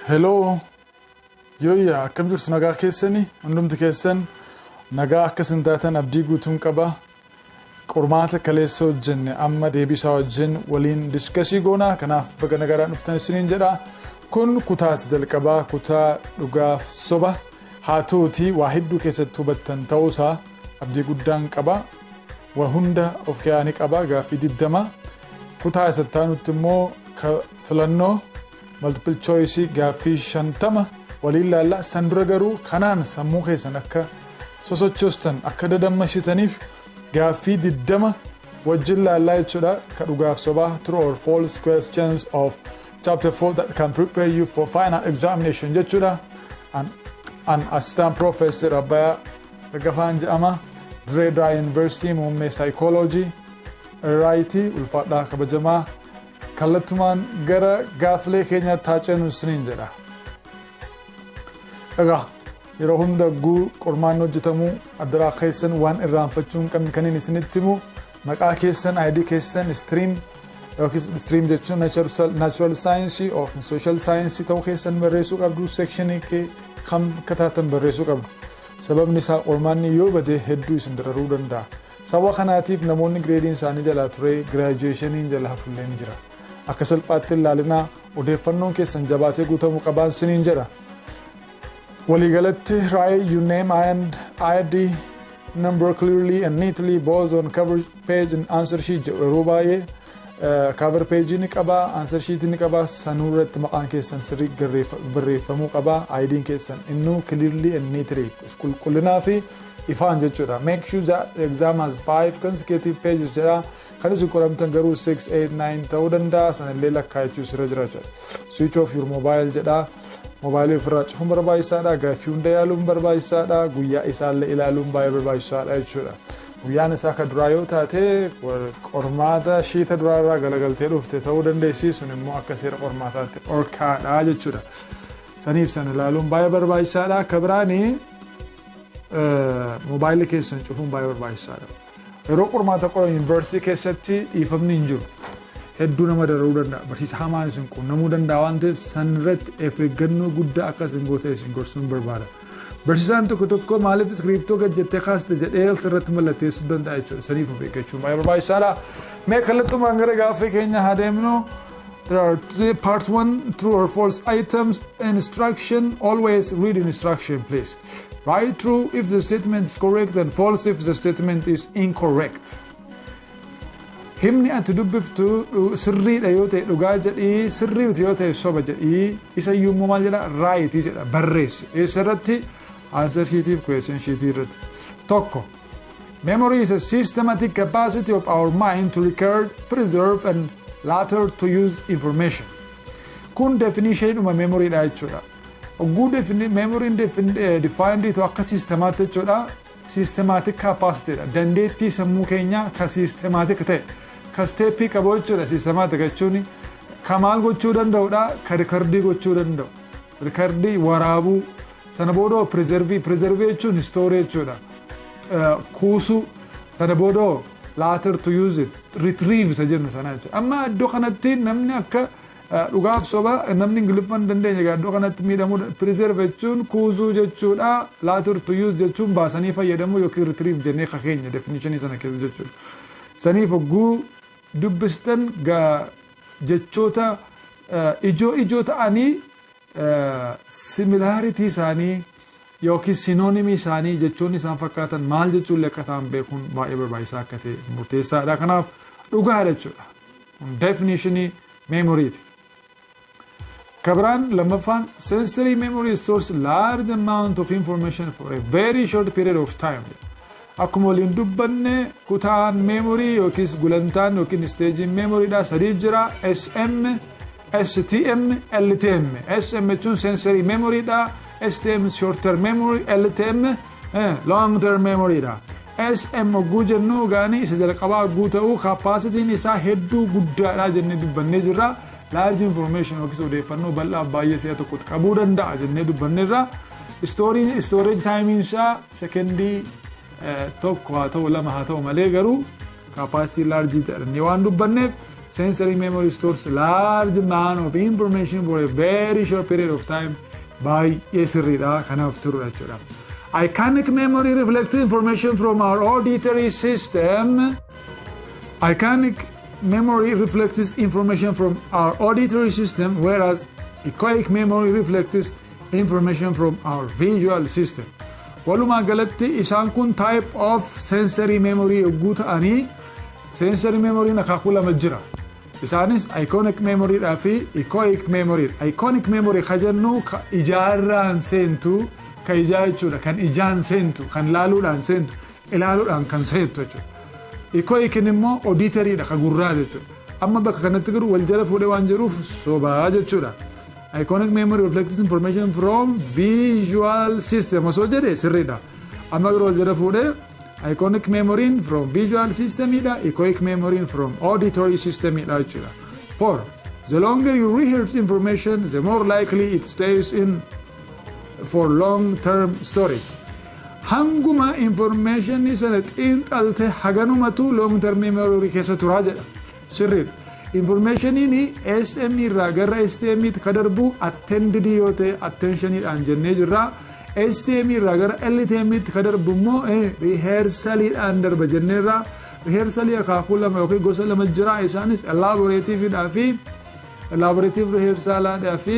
Heloo yooyyaa akkam jirtu nagaa keessanii hundumti keessan nagaa akka isin taatan abdii guutuun qaba qormaata kaleessa hojjenne amma deebiisaa wajjin waliin diskasii goonaa kanaaf baga nagaadhaan dhuftan isiniin jedha kun kutaas jalqabaa kutaa dhugaaf soba haa ta'uti waa hedduu keessatti hubattan ta'uusaa abdii guddaan qaba waa hunda of keessaa ni qaba gaaffii digdama Kutaa isa itti aanutti immoo ka filannoo multiple choice gaaffii shantama waliin laalla. San dura garuu kanaan sammuu keessan akka sosochoostan akka dadammashitaniif gaaffii diddama wajjin laallaa jechuudha. Ka dhugaaf sobaa true or false questions of chapter 4 that can prepare you for final examination jechuudha. An, an assistant professor Abbayaa Daggafaan jedhama. Dirree Dawaa University muummee psychology. Raayiiti ulfaadhaa kabajamaa kallattumaan gara gaaffilee keenyaatti haa ceenu isiniin jedha. Egaa yeroo hunda guu qormaanni hojjetamu addaraa keessan waan irraanfachuu hin qabne kanneen isinitti himu maqaa keessan ID keessan istiriim yookiis istiriim jechuun naachuraal saayinsii yookiin sooshaal saayinsii ta'uu keessan barreessuu qabdu seekshinii kee kam akka taatan barreessuu qabdu. Sababni isaa qormaanni yoo bade hedduu isin dararuu danda'a. Sababa kanaatiif namoonni gireediin isaanii jalaa turee giraajuweeshaniin jala hafullee ni jira. Akka salphaatti hin laalinaa, odeeffannoon keessan jabaatee guutamuu qabaan siniin jedha. Waliigalatti write your name and ID number clearly and neatly both on cover page and answer sheet jedhu yeroo baay'ee Cover page ni qaba, answer sheet ni qaba, sanuu irratti maqaan keessan sirrii barreeffamuu qaba, IDn keessan innuu clearly and neatly qulqullinaa fi ifaan jechuudha. Make sure that the exam has five consecutive pages jedha. Kan isin qoramtan garuu 6, 8, 9 ta'uu danda'a. Sanallee lakkaa'achuu sirra jira jechuudha. Switch off your mobile jedha. Mobaayilii ofirraa cufuun barbaachisaadha. Gaaffii hunda yaaluun barbaachisaadha. Guyyaa isaallee ilaaluun baay'ee barbaachisaadha jechuudha. Guyyaan isaa ka duraa yoo taate, qormaata ishii ta duraa irraa galagaltee dhufte ta'uu dandeessi, sun immoo akka seera qormaataatti dhorkaa dha jechuu dha. Saniif san ilaaluun baay'ee barbaachisaa dha. Ka biraani moobaayilii keessan cufuun baay'ee barbaachisaa dha. Yeroo qormaata qoran yuunivarsiitii keessatti dhiifamni hin jiru. Hedduu nama dararuu danda'a. Barsiisa hamaan isin quunnamuu danda'a waan ta'eef san irratti of eeggannoo guddaa akka isin gootan isin gorsuun barbaada. Barsiisaan tokko tokko maaliif iskiriiptoo gad jettee kaasta jedhee else irratti mallatteessuu danda'a jechuudha. Saniif of eeggachuun baay'ee barbaachisaadha. Mee kallattumaan gara gaaffii keenya haa deemnu. There are three- part one true or false items instruction. Always read instruction please. Write true if the statement is correct and false if the statement is incorrect. Himni ati dubbiftu sirriidha yoo ta'e dhugaa jedhii sirrii miti yoo ta'e soba jedhii isa iyyuu immoo maal jedha raayitii jedha barreessi eessa irratti answer sheetiif question sheetii irratti tokko memory is a systematic capacity of our mind to record preserve and later to use information kun definition dhuma memory dha jechuudha oguu memory defined to akka sistemaatti jechuudha Systematic capacity dha. Dandeettii sammuu keenyaa ka systematic ta'e. Ka step qabu jechuudha systematic jechuun. Ka maal gochuu danda'udha? Ka rikardii gochuu danda'u. Rikardii waraabuu. Sana boodoo preservii. Preservii jechuun story jechuudha. Kuusuu. Sana boodoo later to use it. Retrieve isa jennu sana jechuudha. Amma iddoo kanatti namni akka Dhugaaf soba namni ingiliffa hin dandeenye egaa iddoo kanatti miidhamuu preserve jechuun kuusuu jechuudha later to use jechuun baasanii fayyadamuu yookiin retrieve jennee ka keenya definition sana keessa jechuudha saniif hogguu dubbistan jechoota ijoo ijoo ta'anii similarity isaanii yookiin synonymii isaanii jechoonni isaan fakkaatan maal jechuullee akka ta'an beekuun baay'ee barbaachisaa akka ta'e murteessaadha kanaaf dhugaadha jechuudha. Kun definishinii meemoriiti. Kabiraan lammaffaan sensory memory stores large amount of information for a very short period of time. Akkuma waliin dubbanne kutaan meemorii yookiis gulantaan yookiin isteejiin meemoriidhaa sadii jira SM, STM, LTM. SM jechuun sensory meemoriidhaa, STM short term memory, LTM long term memory dha sm hogguu jennu gaanii isa jalqabaa hogguu ta'uu kaappaasitiin isaa hedduu guddaadha jennee dubbannee jirra laarji information yookiis odeeffannoo bal'aa baay'ee si'a tokkotti qabuu danda'a jennee dubbanneerra istooriin istooreeji taayimiin isaa sekendii tokko haa ta'u lama haa ta'u malee garuu Capacity large jedhanii waan dubbanneef sensory memory stores large amount of information for a very short period of time baay'ee sirriidha kanaaf turudha jechuudha. Iconic memory reflects information from our auditory system. Iconic memory reflects information from our auditory system whereas echoic memory reflects information from our visual system. Walumaa galatti isaan kun type of sensory memory yogguu ta'anii sensory memory akaakuu lama jira. Isaanis iconic memory dhaa fi echoic memory. Iconic memory ka jennu ka ijaarraan seentu ka ijaa jechuudha kan ijaan seentu kan laaluudhaan seentu ilaaluudhaan kan seentu jechuudha. Echoic immoo auditory dha ka gurraa jechuudha. Amma bakka kanatti garuu wal jala fuudhee waan jiruuf sobaa jechuudha. Iconic memory reflects information from visual system osoo jedhe sirriidha. Amma yeroo wal jala fuudhee iconic memory from visual system dha echoic memory from auditory system dha jechuudha. For the longer you rehearse information the more likely it stays in for long term storage. Hanguma information sana xiinxalte haganumatu long term memory keessa turaa jedha. Sirriidha. Informationiin SM irraa gara STM tti ka darbu attended yoo ta'e attentionidhaan jennee jirra. STM irraa gara LTM tti ka darbu immoo rehearsaliidhaan darba jenneerra. Rehearsalii akaakuu lama yookiin gosa lama jira. Isaanis elaborativeidhaa fi elaborative rehearsalaadhaa fi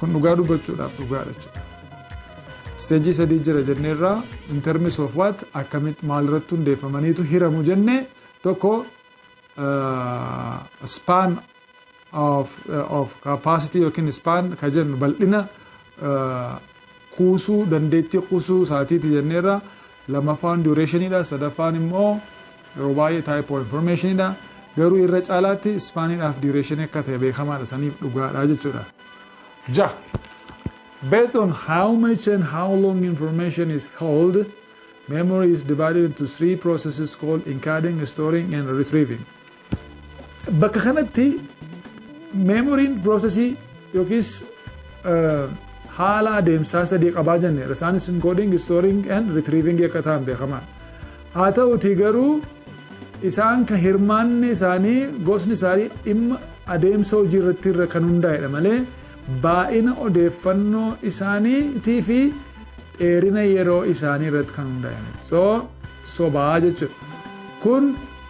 Kun dhugaa dubbachuudhaaf dhugaadha jechuudha. Isteejii sadii jira jennee irraa in terms of what akkamitti maalirratti hundeeffamaniitu hiramu jenne tokko span of, of capacity yookiin span ka jennu bal'ina kuusuu dandeettii kuusuu isaatiiti jenneerra Lammaffaan duration dha. Sadaffaan immoo yeroo baay'ee type of information dha. Garuu irra caalaatti span dhaaf duration akka ta'e beekamaadha saniif dhugaadha jechuudha. Jaha. Based on how much and how long information is held, memory is divided into three processes called encoding, storing, and retrieving. Bakka kanatti meemoriin piroosesii yookiis haala adeemsaa sadii qabaa jenne isaanis inkooding, istooring and ritriiving akka ta'an beekamaa. Haa ta'uutii garuu isaan kan hirmaanni isaanii gosni isaanii dhimma adeemsa hojii irratti irra kan hundaa'edha malee baay'ina odeeffannoo isaaniitii fi dheerina yeroo isaanii irratti kan hundaa'e. So sobaa jechuudha. Kun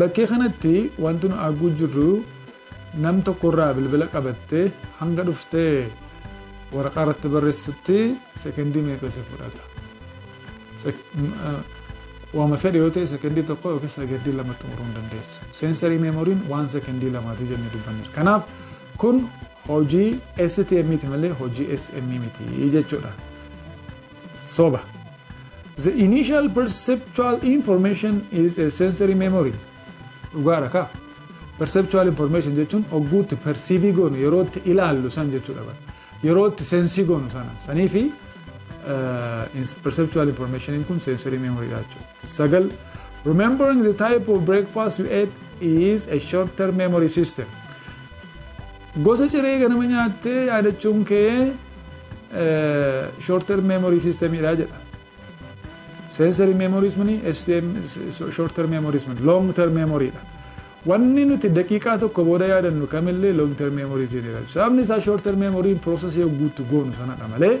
Bakkee kanatti wanti nu arguu jirru nam tokko irraa bilbila qabattee hanga dhuftee waraqaa irratti barreessutti sekendii meeqa si fudhata. Waama fedhe yoo ta'e sekendii tokko yookiin sekendii lama xumuruu hin dandeessu. Seensarii meemoriin waan sekendii lamaati jennee dubbanneera. Kanaaf kun hojii STM ti malee hojii SM miti jechuudha. Soba. The initial perceptual information is a sensory memory. Dhugaadha kaa. Perceptual information jechuun ogguutti persiivii goonu yeroo itti ilaallu san jechuudha bara. Yeroo itti sensii goonu sana. Sanii fi perceptual information kun sensory memory dha jechuudha. 9, Remembering the type of breakfast you ate is a short-term memory system. Gosa ciree ganama nyaattee yaadachuun kee short-term memory system dha jedha. Sensory memories mini STM short-term memories mini long-term memory dha. Wanni nuti daqiiqaa tokko booda yaadannu kamillee long-term memory jedhama. Sababni isaa short-term memory process yoo guutu goonu sanadha malee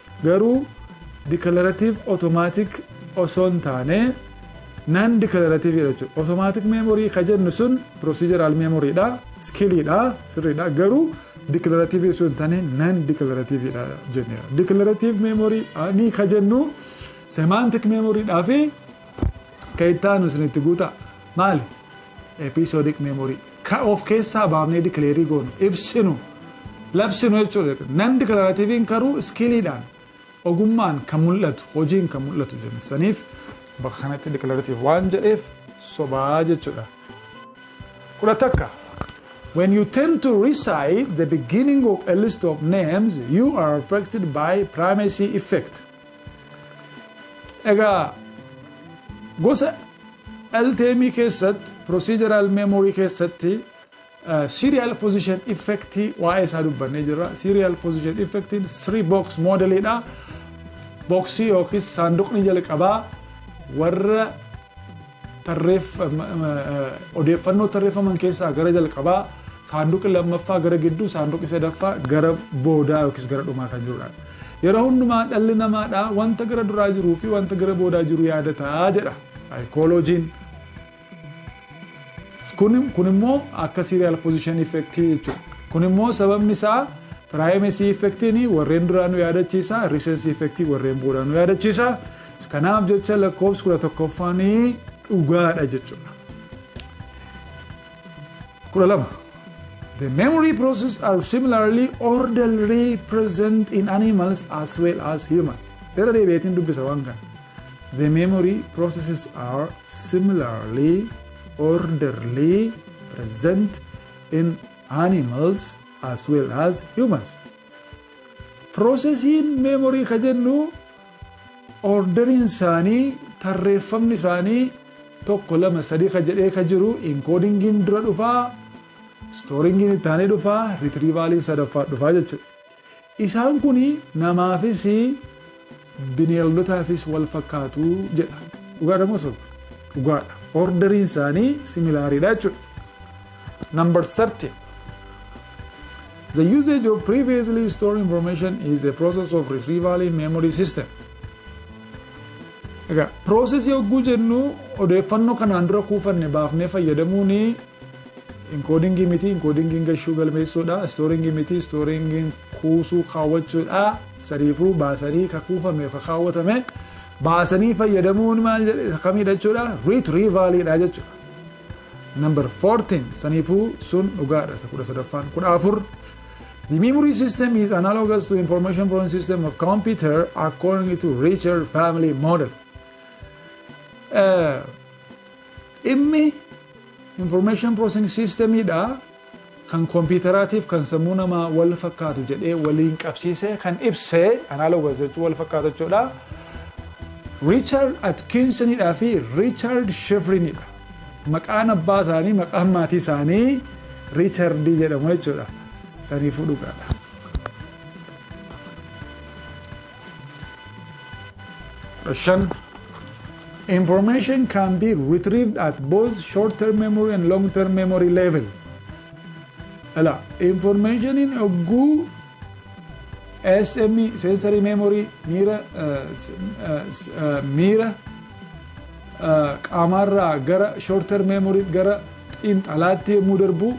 Garuu declarative automatic osoo hin taane non declarative dha jechuudha. Automatic memory ka jennu sun procedural memory dha, skill dha, sirrii dha. Garuu declarative osoo hin taane non declarative dha jenneera. Declarative memory ni ka jennu semantic memory dhaa fi ka itti aanu isin itti guutaa. Maali? episodic memory ka of keessaa baafnee dikileerii goonu ibsinu labsinu jechuudha nan diklarativiin karuu iskiiliidhaan ogummaan kan mul'atu hojiin kan mul'atu jenna saniif bakka kanatti diklaratiiv waan jedheef sobaa jechuudha kudha takka When you tend to recite the beginning of a list of names, you are affected by primacy effect. Egaa gosa LTM keessatti procedural memory keessatti serial position effect waa'ee isaa dubbannee jirra. Serial position effect three box model dha. Boksii yookiis saanduqni jalqabaa warra Odeeffannoo tarreeffaman keessaa gara jalqabaa saanduqi lammaffaa gara gidduu saanduqi sadaffaa gara boodaa yookiis gara dhumaa kan jirudha. Yeroo hundumaa dhalli namaadha wanta gara duraa jiruu fi wanta gara boodaa jiru yaadataa jedha saayikooloojiin. Kun immoo akka siiriyaal pozishin effektii jechuudha. Kun immoo sababni isaa piraayimesii effektiin warreen duraa nu yaadachiisa, riisensii effektii warreen boodaa nu yaadachiisa. Kanaaf jecha lakkoofsi kudha tokkoffaan dhugaadha jechuudha. Kudha lama. The memory process are similarly orderly present in animals as well as humans. Irra deebi'eetiin dubbisa waan kana. The memory processes are similarly orderly present in animals as well as humans. Piroosesiin meemorii ka jennu oorderiin isaanii tarreeffamni isaanii tokko lama sadii ka jedhee ka jiru inkoodingiin dura dhufaa istooringiin itti aanee dhufaa ritriivaaliin sadaffaa dhufaa jechuudha. Isaan kun namaafis Bineeldotaafis wal fakkaatu jedha. Dhugaadha moo soba? Dhugaadha. Orderiin isaanii similaariidha jechuudha. Number 30. The usage of previously stored information is the process of retrieval in memory system. Egaa, piroosesii hogguu jennu odeeffannoo kanaan dura kuufanne baafnee fayyadamuun Inkoodingii miti, inkoodingiin gashuu, galmeessuu, dha. Istooringii miti, istooringiin kuusuu, kaawwachuu, dha. Sariifuu, baasanii, ka kuufame, ka kaawwatame, baasanii fayyadamuun maal jedhe, isa kamiidha jechuudha? Retrieval dha jechuudha. Number 14, saniifuu sun dhugaadha, isa kudha sadaffaan. Kudha afur, The memory system is analogous to information processing system of computer according to Richard family model. Eh, Dhimmi information processing system dha kan kompiitaraatiif kan sammuu namaa wal fakkaatu jedhee waliin qabsiisee kan ibse analogous jechuun wal fakkaata jechuudha. Richard Atkinson dhaa fi Richard Shifrin dha. Maqaan abbaa isaanii maqaan maatii isaanii Richard jedhamu jechuudha. Saniifuu dhugaadha. shan Information can be retrieved at both short-term memory and long-term memory level. Ala, information in oguu SME, sensory memory, miira, uh, s- uh, s- uh, miira uh, qaamarraa gara short-term memory gara xiinxalaatti yommuu darbu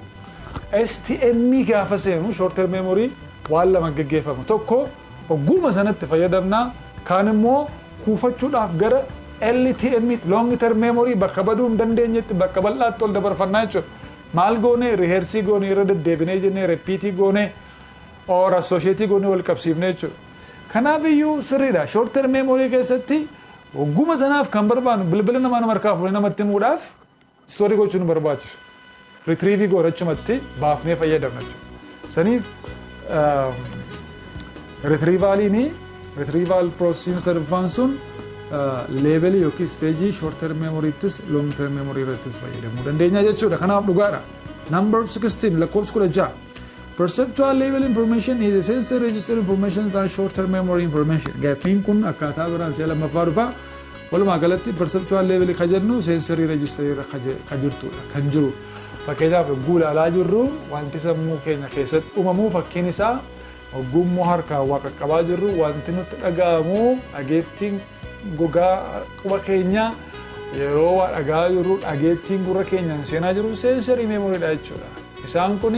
STM gaafa seenu short-term memory waan lama gaggeeffama. Tokko Ogguuma sanatti fayyadamna, kaan immoo kuufachuudhaaf gara LTM, long term memory, bakka baduu hin dandeenyetti, bakka bal'aatti ol dabarfanna jechuudha. Maal goone? Reheersii goone, irra deddeebinee jennee repiitii goone, or associate goonee wal qabsiifne jechuudha. Kanaaf iyyuu sirriidha. Short term memory keessatti ogguuma sanaaf kan barbaannu bilbila namaa nama harkaa fuunee namatti himuudhaaf Story gochuu nu barbaachisu. Retrieve goona achumatti baafnee fayyadamna jechuudha. Saniif retrievaaliin retrieval processing sadaffaan sun leebelii yookiin isteejii short term memoryittis long term memory irrattis fayyadamuu dandeenya jechuudha. Kanaaf dhugaadha. Number 16 lakkoofsi 16. Perceptual level information is a sensory register information and short term memory information. Gaaffiin kun akkaataa biraan si'a lammaffaa dhufa. Walumaa galatti perceptual level kan jennu sensory register irra kan jirtudha, kan jiru. Fakkeenyaaf yogguu ilaalaa jirru wanti sammuu keenya keessatti uumamu fakkiin isaa yogguu immoo harkaan waa qaqqabaa jirru wanti nutti dhaga'amu dhageettiin gogaa quba keenyaa yeroo waa dhaga'aa jirru dhageettiin gurra keenyaan seenaa jiru sensory memory dha jechuudha. Isaan kun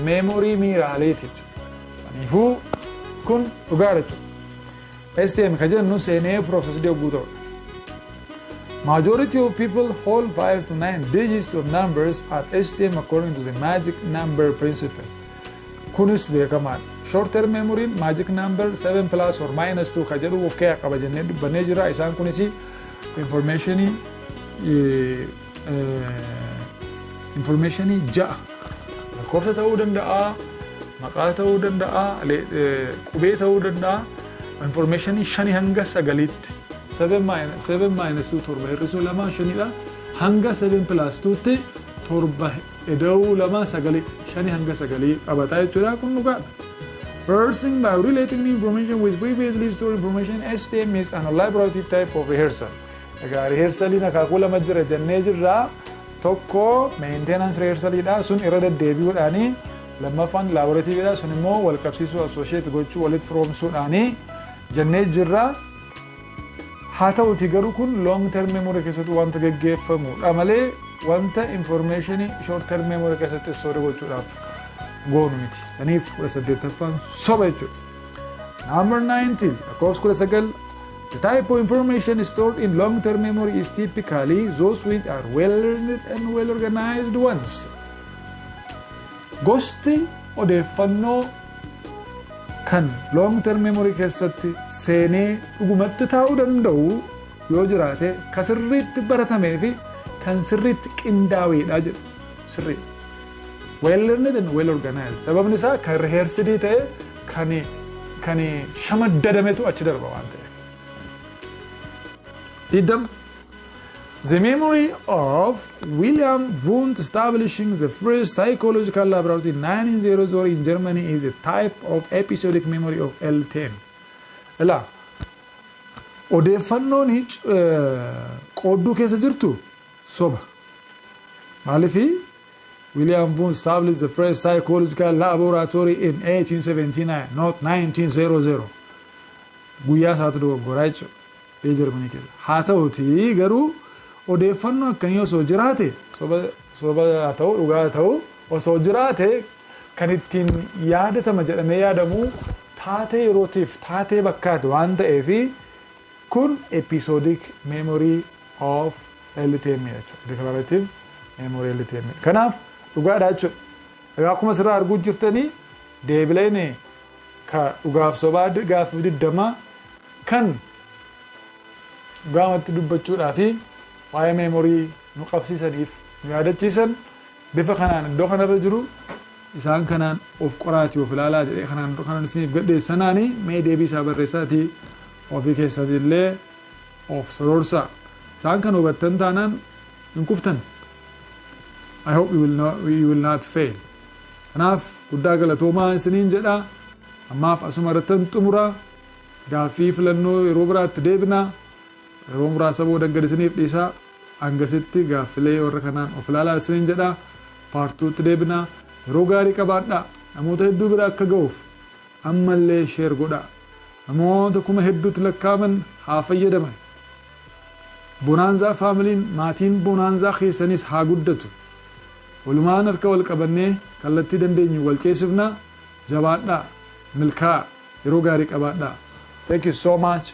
memory miiraaleeti jechuudha. Kanaafuu kun dhugaadha jechuudha. STM ka jennu seenee processed yogguu ta'u dha. Majority of people hold 5 to 9 digits of numbers at STM according to the magic number principle. Kunis beekamaa dha. Short term memory magic number 7 plus or minus 2 ka jedhu of keessaa qaba jennee dubbannee jira. Isaan kunis information Infoormeeshinii ja'a lakkoofsa ta'uu danda'a, maqaa ta'uu danda'a, qubee ta'uu danda'a. Infoormeeshinii shanii hanga sagaliitti. Seven maayinus tuu torba hir'isuu lamaa shanidha. Hanga seven pilaas tuutti torba eda'uu lamaa sagalii shanii hanga sagalii qabataa jechuudha kun dhugaadha. Rehearsing by relating new information with previously stored information STM is an elaborative type of rehearsal. Egaa riheersaliin akaakuu lama jira jennee jirra. Tokko meentenaans riheersaliidha. Sun irra deddeebi'uudhaani. Lammaffaan laaboratiiviidha. Sun immoo wal qabsiisuu assoosheet gochuu walitti firoomsuudhaani jennee jirra. Haa ta'uti garuu kun long term memory keessatti wanta geggeeffamudha malee wanta information short term memory keessatti store gochuudhaaf goonu miti. Saniif 18ffaan soba jechuudha. Number 19 lakkoofsi 19 The type of information stored in long-term memory is typically those which are well learned and well organized ones. Gosti odeeffannoo kan long term memory keessatti seenee dhugumatti taa'uu danda'u yoo jiraate ka sirriitti baratamee fi kan sirriitti qindaa'eedha jedhu sirrii well learned and well organized sababni isaa kan reheersidii ta'e kan kan shamaddadametu achi darba waan ta'eef. Diddam The memory of William Wundt establishing the first psychological laboratory in 1900 in Germany is a type of episodic memory of L10. Ilaa, odeeffannoon hic- eh, qoodduu keessa jirtu soba. Maaliif William Wundt established the first psychological laboratory in 1879, not 1900. Guyyaa isaatu dogoggoraa jechuudha. Biyya Jarmanii keessa. Haa ta'utii garuu odeeffannoo akkanii osoo jiraate soba soba haa ta'u dhugaa haa ta'u osoo jiraate kan ittiin yaadatama jedhamee yaadamu taatee yerootiif taatee bakkaati waan ta'eefi Kun episodic memory of LTMA jechuudha. Declarative memory LTMA. Kanaaf dhugaadha jechuudha. Egaa akkuma asirraa arguu jirtanii deebileen ka dhugaaf sobaa gaaffiif diddamaa kan dhugaamatti dubbachuudhaa fi waa'ee meemorii nu qabsiisaniif nu yaadachiisan Bifa kanaan iddoo kana irra jiru isaan kanaan of qoraatii of ilaalaa jedhee kanaan dura kanan isiniif gadheesse sanaani mee deebii isaa barreessaatii ofii keessan illee of soroorsaa. Isaan kana hubattan taanaan hin kuftan. I hope you will not, you will not fail. Kanaaf guddaa galatoomaa isiniin jedha. Ammaaf asuma irrattan xumura. Gaaffii filannoo yeroo biraatti deebina. Yeroo muraasa booda gad isiniif dhiisa. Hangasitti gaaffilee warra kanaan of ilaalaa isiniin jedha. Part 2 tti deebina. Yeroo gaarii qabaadhaa. Namoota hedduu bira akka ga'uuf ammallee share godhaa. Namoota kuma hedduutti lakkaa'aman haa fayyadaman. Bonaanzaa Faamiliin, maatiin Bonaanzaa keessaniis haa guddatu. Walumaan harka wal qabannee kallattii dandeenyu wal ceesifna. Jabaadhaa. Milkaa'a. Yeroo gaarii qabaadhaa. Thank you so much.